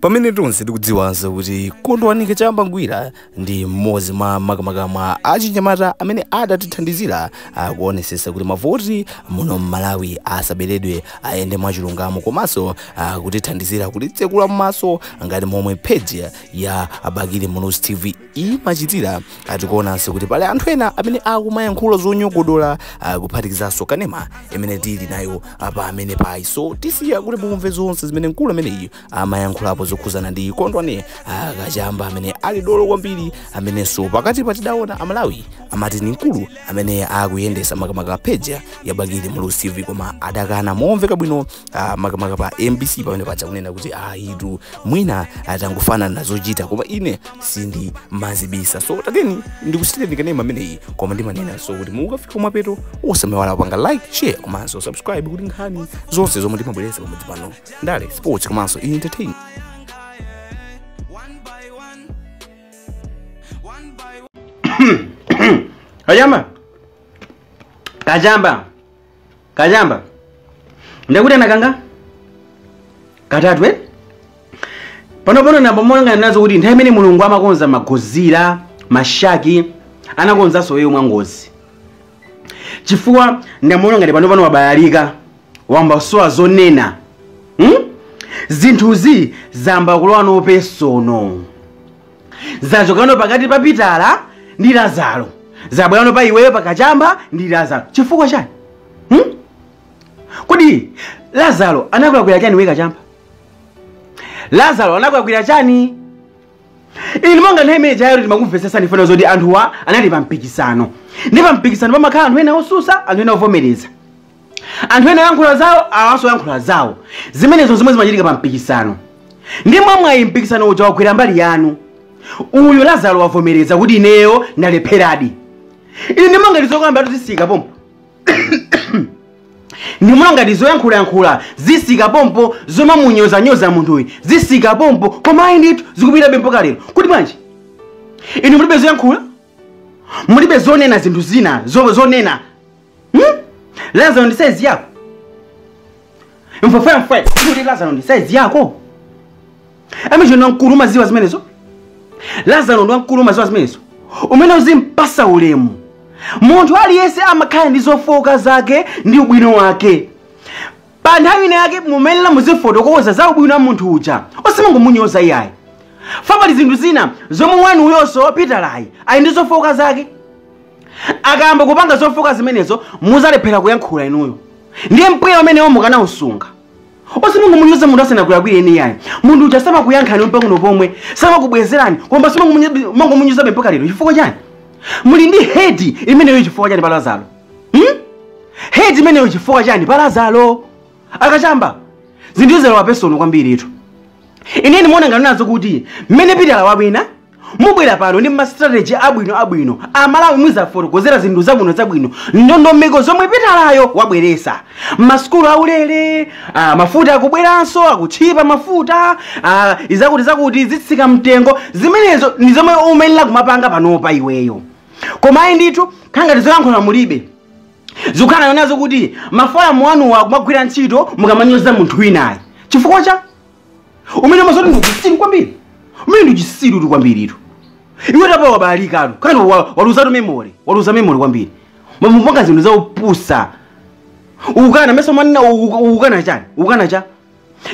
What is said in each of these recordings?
pamene tonse tikudziwanso kuti kondwani kachamba ngwira ndi mmodzi mwa makamaka mwa achinyamata amene adatithandizira kuonesesa kuti mavoti muno mmalawi asaberedwe ayende mwachilungamo komanso kutithandizira kutitsekula m'maso ngati momwe page ya abakili muluzi tv Iyi machitira ah tikuonanso kuti pali anthu ena amene akumayankhula zonyogodola ah, kuphatikizanso kanema imene tili nayo apa amene payi so tisiya kuti mumve zonse zimene mkulu ameneyi amayankhulapo zokhuzana ndi kondwani ah, kachamba amene ali dolo kwambiri amenenso pakati patidaona amalawi amati ni mkulu amene akuyendesa makamaka page ya abakili muluzi tv koma adakana momveka bwino ah, makamaka pa mbc pamene paja kunena kuti ayitu mwina atangofanana zochita koma ine sindi mazibisa so tateni ndikusiyireni kanema ameneyi koma ndimanenaso kuti mukafika kumapeto osamaiwala kupanga like share komanso subscribe kuti nkhani zonse zomwe timabweretsa pamudzi pano ndale sports komanso entertain One by one. One by one. Kachamba. Kachamba. kachamba ndekuti anakanga katatu eh? panopono ndangogomanga nazo kuti nthawi imene mulungu amakonza magozira mashaki anakonzanso iweyo mwangozi chifukwa ndimaona ngati panopano wabalalika wayamba sowa zonena hmm? zinthuzi zayamba kulowa nopesono zachokano pakati pa pitala ndi lazaro zabwerano pa iweyo pakachamba ndi lazaro chifukwa chani hmm? kodi lazaro anakulakwira chani iwe kachamba lazaro anakulakwira chani inu monga nthawi imene ija timakumvetsesani pano zoti anthuwa anali pa mpikisano nde pa mpikisano pamakhala anthu ena osusa anthu ena ovomereza anthu ena ayankhula zawo awanso ayankhula zawo zimenezo zomwe zimachitika pa mpikisano nde mwamwayi mpikisano uja wagwera mbali yanu uyu lazaro wavomereza kuti ineyo ndalepheradi ine ndimaona ngati zokamba zathu zisika pompo ndimaona ngati zoyankhulayankhula zisika pompo zomamunyozanyoza munthuyu zisika pompo koma ayi ndithu zikupitirirabe mpaka lero kodi bwanji inu mulibe zoyankhula mulibe zonena zinthu zina zo- zonena Hmm? Lazaro ndi size yako? Mfwefwe mfwe, kodi Lazaro ndi size yako? Amene uja ndi wamkulu umaziwa zimenezo? Lazaro ndi wamkulu umaziwa zimenezo? Mwene uzimpasa ulemu. Munthu aliyense amakhala ndi zofooka zake ndi ubwino wake. pa nthawi ina yake mumayenera muzifotokoza za ubwino wa munthu uja osamangomunyoza iyayi fa pali zinthu zina zomwe wanu uyonso pitalayi ali ndi zofooka zake akayamba kupanga zofooka zimenezo muzalephera kuyankhula inuyo ndiye mpweya umenewo mukanausunga osamangomunyoza munthu asanakulakwire eni iyayi munthu uja samakuyankhani mpang'ono pomwe samakubwezerani koma simangomunyozabe mpaka lero chifukwa chani muli ndi hate imeneyo chifukwa chani pa lazaro hmm? hate imeneyo chifukwa chani pa lazaro akachamba zinthu zalowa personal kwambiritu ine ndimaona ngati nazo kuti mmene pitala wawina mubwera pano ndi mastrategy abwino abwino amalawi muzafotokozera zinthu zabwino zabwino ndondomeko zomwe pitalayo wabweresa masukulu aulere ah, mafuta akubweranso akutchipa mafuta ah, zakuti zakuti zitsika mtengo zimenezo ndi zomwe umayenera kumapanga panopa iweyo koma ayi ndithu khala ngati zolankhula mulibe zikukhala nazo kuti maforamu anuwa akumagwira ntchito mukamanyoza munthu winayi chifukwa cha umene mazoti ndi uchisiru kwambiri umene ndi uchisirutu kwambiritu iwetu apa wabalalikatu kani wa- waluzatu memory waluza memory kwambiri umapanga zinthu zaupusa ukukana mesa umanena ukukana chani ukukana cha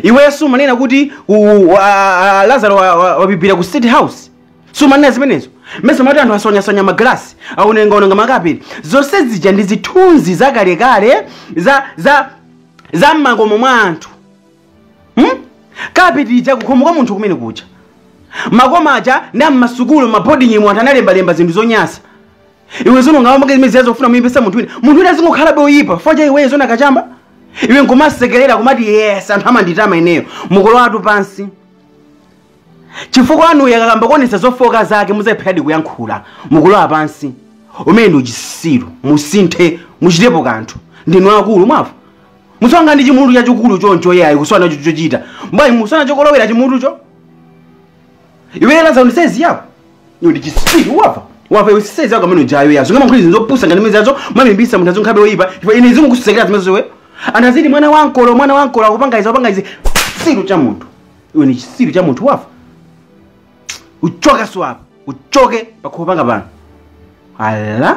iwe sumanena kuti u- wa- a- a- lazaro wa- wa- wabibira ku state house sumanena zimenezo mesa umati anthu aswanyaswanya magalasi aonongaononga makapeti zonse zija ndi zithunzi zakalekale za za za mmakomo mwa anthu hmm? kapeti ija kukhomo kwa munthu kumene kuja makoma aja ndi ammasukulu mabodingimu anthu analembalemba zinthu zonyasa iwe zona ungamamake zimene zijazo kufuna kumuyipisa munthu wina munthu wina azingokhalabe oyipa chifukwa cha iweyo zona kachamba iwe nkumasekerera kumati yes anthu amanditama ineyo mukulowatu pansi chifukwa wanuyo akayamba kuonesa zofoka zake muzalepheradi kuyankhula mukulowa pansi umene ndi uchisiru musinthe muchitepo kanthu ndinu akulu mwava musakhale ndi chimutu chachikulu choncho yayi kusowa nacho chochita mbwayi musowa nacho kolowera chimutucho iwe laza ndi size yako iwe ndi chisiru wava wava iwe size yako amene ujayo yazo ungamayankhule zinthu zopusa ngati zimene zijazo kumamuyipisa munthu azingokhalabe oyipa ndipo ine zimukusekera zimenezo iwe anthu aziti mwana wa nkolo mwana wa nkolo akupanga izi akupanga izi chisiru cha munthu iwe ni chisiru cha munthu wava uchoke usowe apa uchoke pakhomo panga pano ala